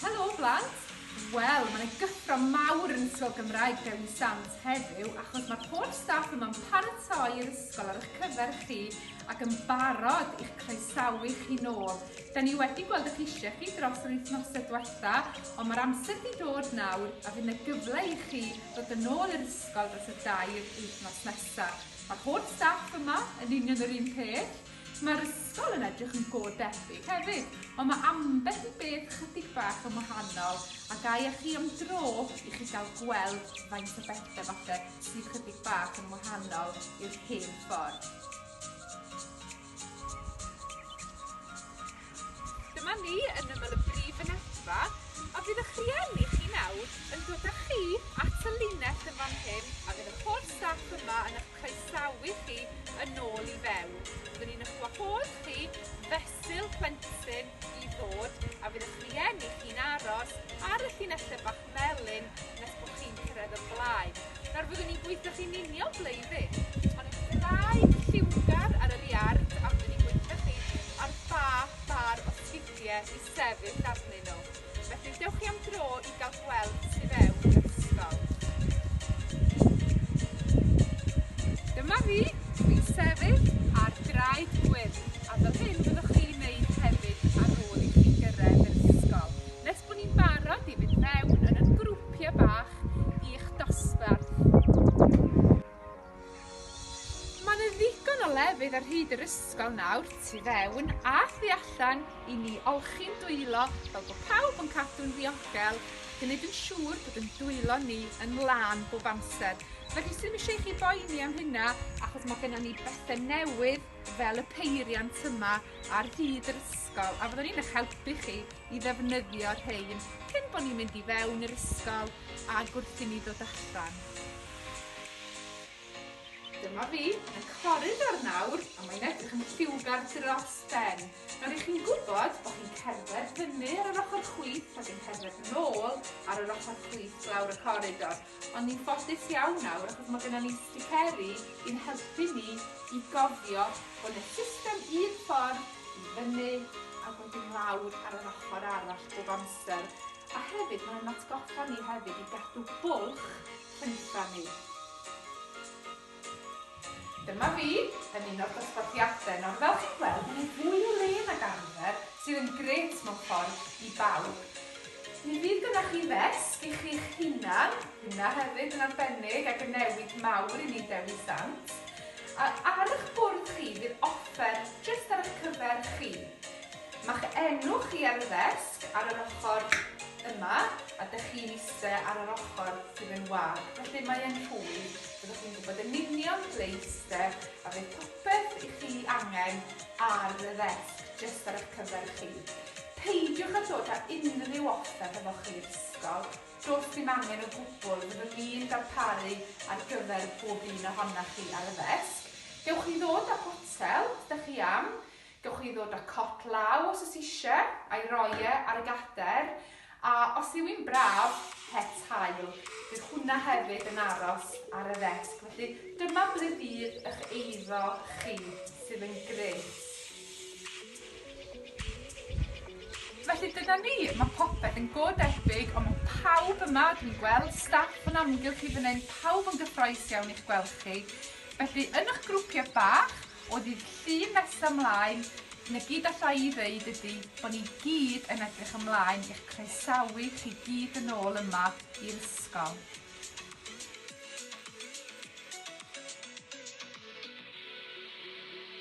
Helo blant! Wel, mae'n y gyffro mawr yn Ysgol Gymraeg Dewi Sant heddiw achos mae'r holl staff yma'n paratoi yr ysgol ar eich cyfer chi ac yn barod i'ch croesawu chi nôl. Da ni wedi gweld eich eisiau chi dros yr wythnosau diwetha, ond mae'r amser wedi dod nawr a fydd yna gyfle i chi ddod yn ôl i'r ysgol Fel dros y dair wythnos nesaf. Mae'r holl staff yma yn union yr un peth. Mae'r ysgol yn edrych yn go debyg hefyd, ond mae ambell i beth chydig bach yn wahanol a gai â chi am dro i chi gael gweld faint o bethau falle sydd chydig bach yn wahanol i'r hen ffordd. Dyma ni yn ymyl y brif fynedfa a bydd y'ch rhieni chi nawr yn dod â chi at y linell yn fan hyn a fydd yr holl staff yma yn y'ch croesawu chi yn ôl i fewn. Byddwn ni'n y'ch wahodd chi fesul plentyn i ddod a fydd y'ch rhieni chi'n aros ar y llinelle bach melyn nes bod chi'n cyrraedd y blaen. Nawr fyddwn ni'n gweithio chi'n union ble i fynd. Ond os bydd dau lliwgar ar yr iard a fyddwn ni'n gweithio chi ar ba far o sgidiau i sefyll arnyn nhw. Felly dewch chi am dro i gael gweld tu fewn yr ysgol. Dyma fi, dw i'n sefyll ar draed gwyrdd a fel hyn fyddwch chi'n neud hefyd ar ôl i chi gyrraedd yr ysgol. nes bod ni'n barod i fynd mewn yn yn grwpiau bach i'ch dosbarth. Mae yna ddigon o lefydd ar hyd yr ysgol nawr, tu fewn a thu allan, i ni olchi'n dwylo fel bod pawb yn cadw'n ddiogel, gwneud yn siŵr bod yn dwylo ni yn lân bob amser. Mae dwi ddim eisiau chi boeni am hynna achos mae gennym ni bethau newydd fel y peiriant yma ar hyd yr ysgol a fyddwn ni'n eich helpu chi i ddefnyddio rhein cyn bod ni'n mynd i fewn i'r ysgol a gwrth i ni ddod allan. Dyma fi yn coridor nawr a mae'n edrych yn lliwgar dros ben. Nawr i chi'n gwybod bod chi'n cerdded fyny ar yr ochr chwith ac yn cerdded nôl ar yr ochr chwith lawr y coridor. Ond ni'n ffodus iawn nawr achos mae gennym ni sticeri i'n helpu ni i gofio bod 'na system un ffordd i fyny a wedyn lawr ar yr ochr arall bob amser. A hefyd mae'n atgoffa ni hefyd i gadw bwlch rhyngdda ni. Dyma fi yn un o'r dosbarthiadau nawr. Fel chi'n gweld, mae nhw fwy o le nag arfer, sydd yn gret mewn ffordd i bawb. Mi fydd gyda chi ddesg i chi'ch hunan, hynna hefyd yn arbennig ac yn newid mawr i ni'n Dewi Sant. A ar eich bwrdd chi fydd offer jyst ar eich cyfer chi. Mae'ch enw chi ar y ddesg ar yr ochr yma a dych chi'n eistedd ar yr ochr sydd yn wag, felly mae'n rhwydd. Byddwch chi'n gwybod yn union ble i iste a bydd popeth i chi angen ar y ddesg jyst ar eich cyfer chi. Peidiwch â dod â unrhyw offer hefo chi i'r ysgol, does dim angen o gwbl, fyddwn ni'n darparu ar gyfer pob un ohonoch chi ar y ddesg. Gewch chi ddod â photel 'da chi am Gewch chi ddod a cot law os oes eisiau, a'i roi e ar y gader, a os yw hi'n braf, het haul. Bydd hwnna hefyd yn aros ar y ddesg, felly dyma ble fydd eich eiddo chi, sydd yn grêt. Felly dyna ni, mae popeth yn go debyg, ond mae pawb yma, dwi'n gweld staff yn amgylch chi fan hyn, pawb yn gyffroes iawn i'ch gweld chi. Felly, yn eich grwpiau bach, O ddydd Llun nesa mlaen, na gyd allai i ddeud ydi bo ni gyd yn edrych ymlaen i'ch croesawu chi gyd yn ôl yma i'r ysgol.